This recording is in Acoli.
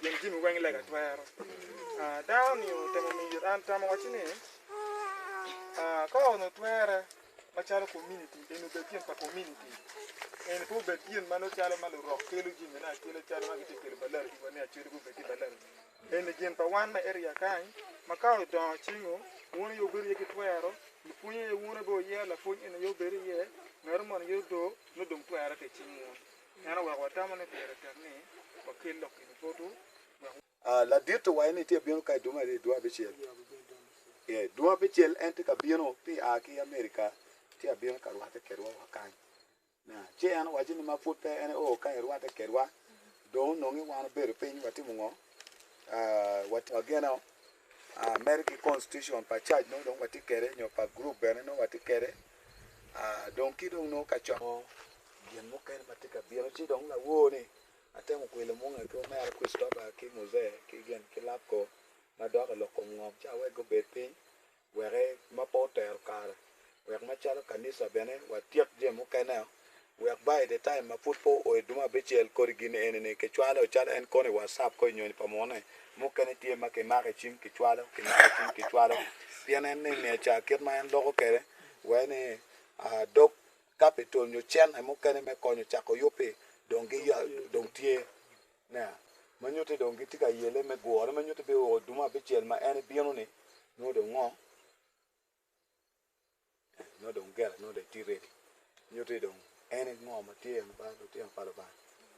Pien jami weng i lega twero. Dano ni otemo miyo it an tam owaci ni, Ka onongo twere macalo kominiti, eni obed gin pa kominiti, eni pe obed gin ma nongo calo ma lurok kelo jamine akela calo ma gitye ka kelo balarigiwa ni acwele gubed ki balarigi. Eni gin pa wan me eria kany ma ka odongo cingo wun aye wubedo iye ki twero, ipwonyo aye wun aye wubeo iye, lapwony eni aye wubedo iye, ngatu moni aye odoo nongo dong twere ki i cing wun. En oweko watamo ni pire tek ni wakel lok i Lupotu wek. Ladit owaco ni tye abino ka i dumo aryo dwe abicel. Ee, dwe abicel en tye ka bino ti a ki Amerika ci abino ka rwatte kedwa wa kany. Na, ci en owaco ni ma pud pe en oo ka irwatte kedwa, dong onongi wan obedo piny watimo ngo? Aa, watimo ageno, aa, mere ki constitution pa church nongo dong watye kede nyo pa group bene nongo watye kede, aa, dong ki dong nongo ka coko Gin mukene ma tye ka bino ci dong lawor ni atemo kwilo munga ki omera Christopher ki Muse ki gin ki Lapco ma dok i lok kom ngom ci awek gubed piny weke ma pe otero kare wek macalo kanisa bene watyek jami mukeneo wek by the time ma pud pe oo iduma abicel kodi gin eni ni kicwalo calo en kono i WhatsApp ko i nyonyo pa mune mukene tye ma kimako i cing kicwalo kimako i cing kicwalo pien en ni miya ca kit ma en loko kwede wai ni dog capital nyo cente mukene me konyo cako yub-bi dong giya, dong tye. Nea, ma nyutti dong gitye ka yele me gure ma nyutti bino o dumo abicel ma en ibino-ni, nongo dong ngo? Eh, nongo dong gella nongo dong etye ready. Nyutti dong en ngo ma tye en ba lutino pa Lubanga.